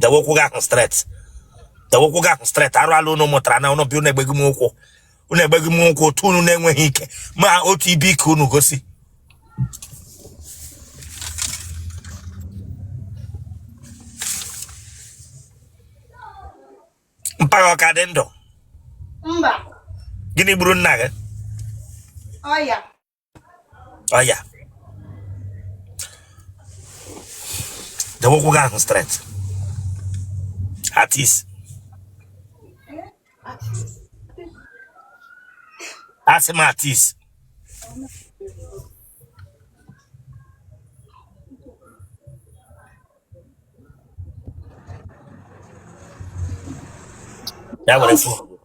dewe ụkwụ gị ahụ straight dewe ụkwụ gị ahụ straight arụ ala unu mụtara na unu bi unu egbeghi m ụkwụ unu egbeghi m ụkwụ otu unu na-enweghị ike ma otu ibe ike unu gosi mpa gị ọ ka dị ndụ mba gịnị gburu nna gị ọya ọya dewe ụkwụ gị ahụ straight at ease asị m at ease Ya were phone.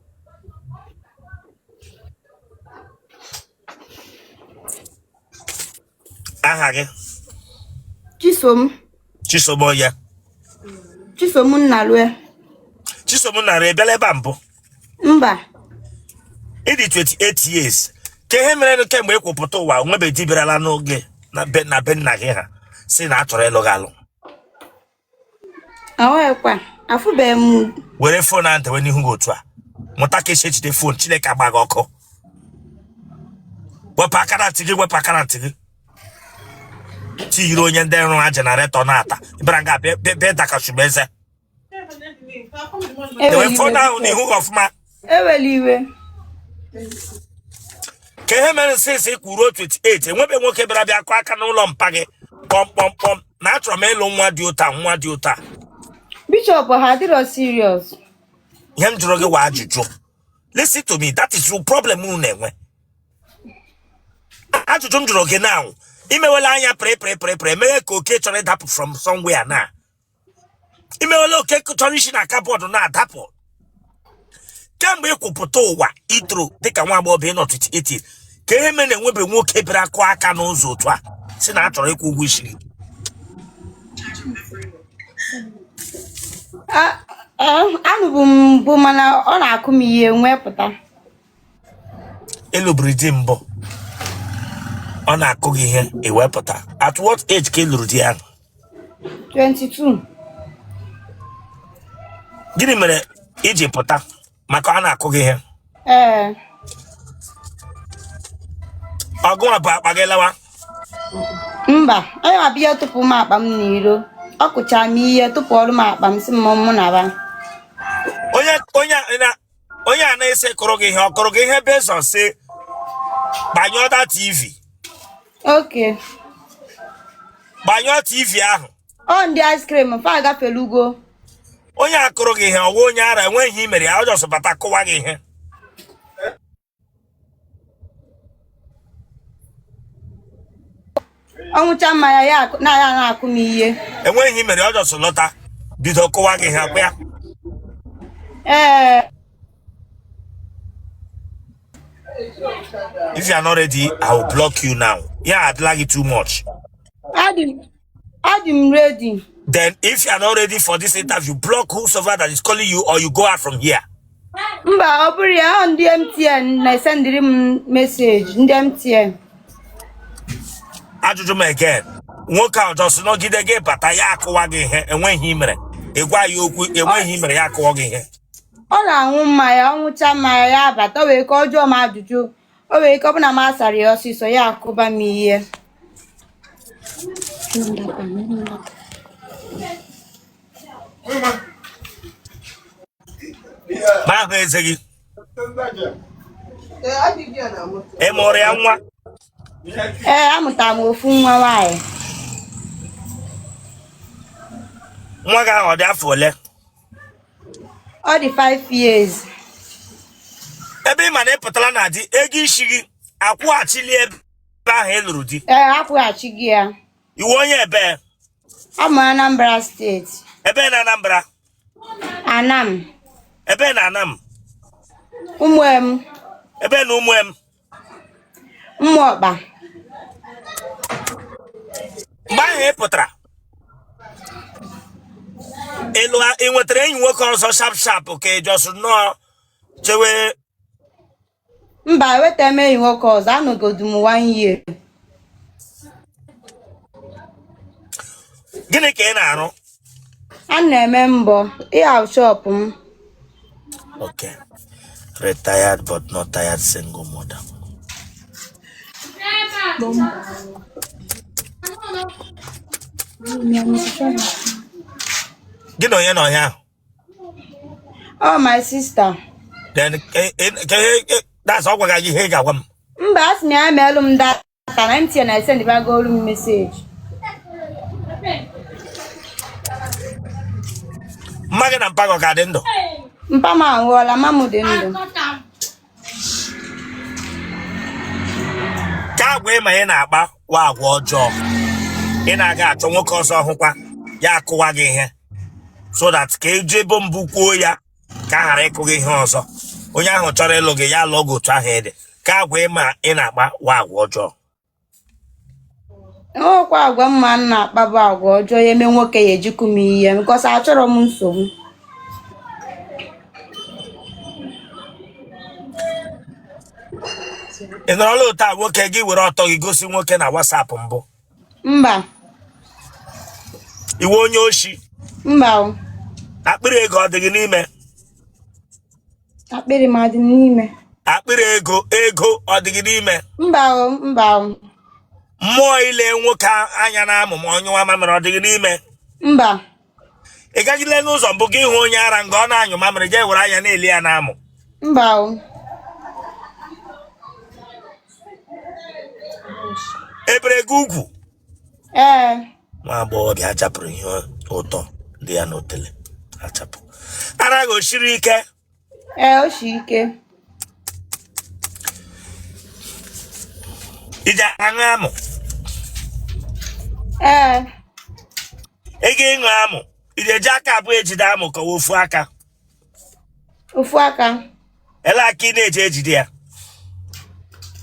Aha gị? Chisom. Chisom onye? Chisom Nnalue. Chisom Nnalue, ị bịala ebe a mbụ? mba ị dị 28 years kee ihe mere kemgbe ị kwụpụta ụwa enwebe di bịarala n'oge na be nna gị ha sị na a chọrọ ịlụ gị alụ awekwa afụbeghị m were phone ahụ dewe n'ihu gị otu a mụta ka e si ejide phone chineke agba gị ọkụ wepụ aka na ntị gị wepụ aka na ntị gị ị yiri onye ndị nrụ ha generator na-ata ị bịara nga bịa bịa- bịa dakashubu eze dewe phone ahụ n'ihu ọfụma ewela iwe kee ihe mere since ị kwụrụ 28 enwebe nwoke bịara bịa kụọ aka n'ụlọ mpa gị kpọmkpọmkpọm na achọrọ m ịlụ nwa dị otu a nwa dị otu a bishop ha adịrọ serious ihe m jụrụ gị wụ ajụjụ listen to me that is your problem unu na-enwe ajụjụ m jụrụ gị now i mewela anya pịrịpịrịpịrịpịrị emewe ka oke chọrọ ịdapụ from somewhere now i mewela ka oke chọrọ isi na cupboard na-adapụ kemgbe ị kwụpụta ụwa i toro dịka nwa agbọghọ nọ 28 kee ihe mere enwebe nwoke bịara kụọ aka n'ụzọ otu a sị na a chọrọ ịkwụ ụgwọ isi alụbu m mbụ mana ọ na-akụ m ihe m wee pụta ị lụburu di mbụ ọ na-akụ gị ihe i wee pụta at what age ka ị lụrụ di ahụ 22 gịnị mere i ji pụta maka ọ na-akụ gị ihe ee ọ gịwa bu akpa gị lawa mba ọ yawa bịa tụpụ m akpa m n'iro ọ kụchara m ihe tụpụọrụ m akpa m sị m mụ naba onye onye na onye a na-asị kụrụ gị ihe ọ kụrụ gị ihe based on sị gbanyụọ that tv Okay. gbanyụọ tv ahụ Ọ ndị ice cream fa agafelugo. onye a kụrụ gị ihe ọ wụ onye ara enweghị ihe i mere ya ọ just bata kụwa gị ihe ọ ṅụcha mmanya ya akụ- na ya na-akụ m ihe enweghị ihe i mere ọ just lọta bido kụwa gị ihe ọ kwa ya ee if you are not ready i will block you now ya adịla gị too much adị m Adị m ready. Then if you are not ready for this interview, block whosoever that is calling you or you go out from here. Mba, ọ bụrọ ya ọ ndị MTN na-esendịrị m message ndị MTN. Ajụjụ m again. Nwoke ahụ just nọgide gị bata ya akụwa gị ihe enweghị ihe i mere. Ị gwa ya okwu enweghị ihe i mere ya akụwa gị ihe. Ọ na-aṅụ mmanya, ọ ṅụcha mmanya ya abata, o nwee ike ọ jụọ m ajụjụ. o nwere ike ọ bụ na m asarọ ya ọsịsọ ya akụba m ihe mara ahụ eze gị ị mụrụ ya nwa ee amụtara m ofu nwa nwaanyị nwa gị ahụ ọ dị afọ ole ọ dị 5 years ebe ị ma na ị pụtara na di ego isi gị akwụghachili ebe ahụ ị lụrụ di ee akwụghachigo ya ị wụ onye ebee awụ m Anambra steeti ebee na Anambra Anam ebee na Anam Ụmụem ebee na Ụmụem Ụmụọkpa mgbe ahụ ị pụtara ị nwetara enyi nwoke ọzọ sharp sharp ka ị just nọọ chewe mba enwetarọ m enyi nwoke ọzọ anọgodu m one year gịnị ka ị na-arụ A na-eme mbọ ịha shop m. Okay. Retired but not tired single mother. Gị na onye nọ ya? Ọ my sister. Then, eh, eh, eh, eh, that's all gị ihe ị ga-agwa m. Mba, asị m ya meelụ m da ta na MTN na-esendịbagolu m message mma gị na mpa gị ọ ka dị ndụ mpa m anwụọla mma m dị ndụ ka agwa ị ma ị na-akpa wụ agwa ọjọọ ị na-aga achọ nwoke ọzọ ọ hụkwa ya akụwa gị ihe so that ka e ji bu mbụ kwuo ya ka a ghara ịkụ gị ihe ọzọ onye ahụ chọrọ ịlụ gị ya lụọ gị otu ahụ ị dị ka agwa ị ma ị na-akpa wụ agwa ọjọọ enwekwa agwa m ma m na-akpa bụ agwa ọjọọ ya eme nwoke ya eji akụ m ihe because achọrọ m nsogbu ị nọrọla otu a nwoke gị were ọtọ gị gosi nwoke na WhatsApp mbụ mba ị wụ onye oshi mba akpịrị ego ọ dị gị n'ime akpịrị m adị n'ime akpịrị ego ọ dị gị n'ime mba mba mmụọ ile nwoke anya n'amụ ma ọ nyụwa mamịrị ọ dị gị n'ime mba ị gajile n'ụzọ mbụ gị hụ onye ara nga ọ na-anyụ mamịrị jee were anya na-ele ya n'amụ mba e bere gị ugwu ee nwa agbọghọbịa a chapụrụ ihe ụtọ dị ya n'otele achapụ ara gị o siri ike ee o si ike i je aṅụ amụ ee ị ga ịṅụ amụ i je eji aka abụọ ejide amụ ka ọ wụ ofu aka ofu aka ele aka ị na-eji ejide ya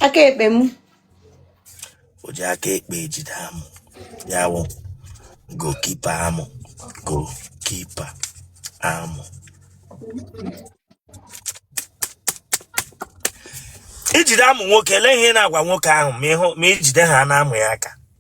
aka ekpe m o ji aka ekpe ejide amụ ya wụ goalkeeper amụ goalkeeper amụ i jide amụ nwoke ele ihe ị na-agwa nwoke ahụ ma i jide ha n'amụ ya aka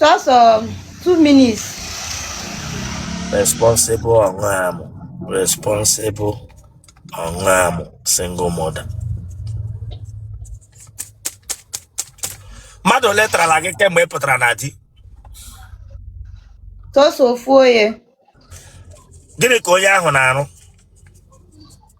Just um, two minutes. Responsible ọṅụ amụ. Responsible ọṅụ amụ. Single mother. Mmadụ ole tarala gị kemgbe ị pụtara na di? Just ofu onye. Gịnị ka onye ahụ na-arụ?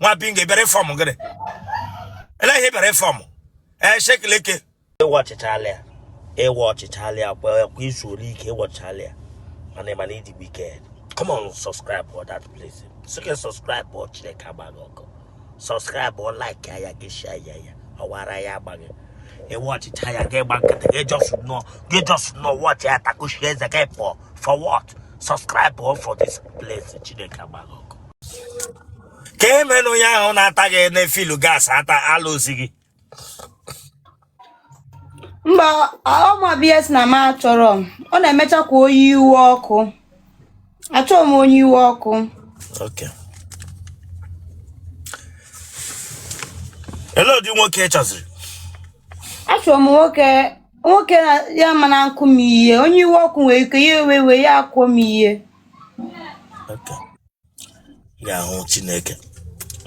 nwa bingo ị bịara ịform gịnị ele ihe ị bịara ịform ee shekileke ị watchchaala ya ị watchchaala ya kwa izu ole ike ị watchchaala ya mana ị ma na ị dị wicked come on subscribe for that place so can subscribe for chineke agba gị ọkụ subscribe for like ya gị share ya ya ọwara ya agba gị ị watchcha ya gị gba nkịtị gị just nọ gị just nọ watch ya takushi eze gị for for what subscribe for this place chineke agba gị ọkụ ka e mere na onye ahụ na-ata gị na-efill gas ata alụzi gị mba ọma bs na m achọrọ m. ọ na-emecha ka onye iwe ọkụ achọghị m onye iwe ọkụ Okay. Ele ụdị nwoke ị chọziri? achọrọ m nwoke nwoke na ya ama na-akụ m ihe onye iwe ọkụ nwere ike ya ewe iwe ya akụọ m ihe ga-ahụ chineke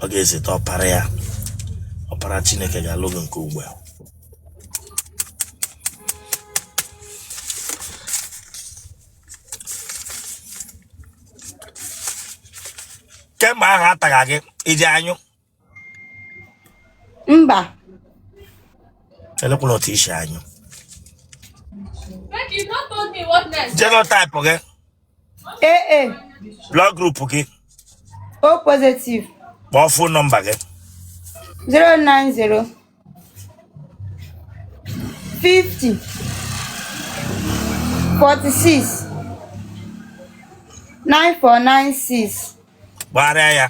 ọ ga-ezite ọpara ya ọpara chineke ga-alụ gị nke ugbu a kemgbe ahụ ataga gị iji anyụ mba elekwala otu isi anyụ Becky, you not told me what next. genotype gị AA blood group gị O positive kpọọ phone number gị 090 50 46 9496 gbagharịa ya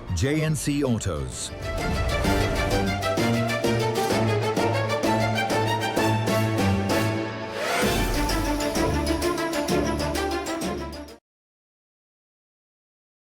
JNC Autos.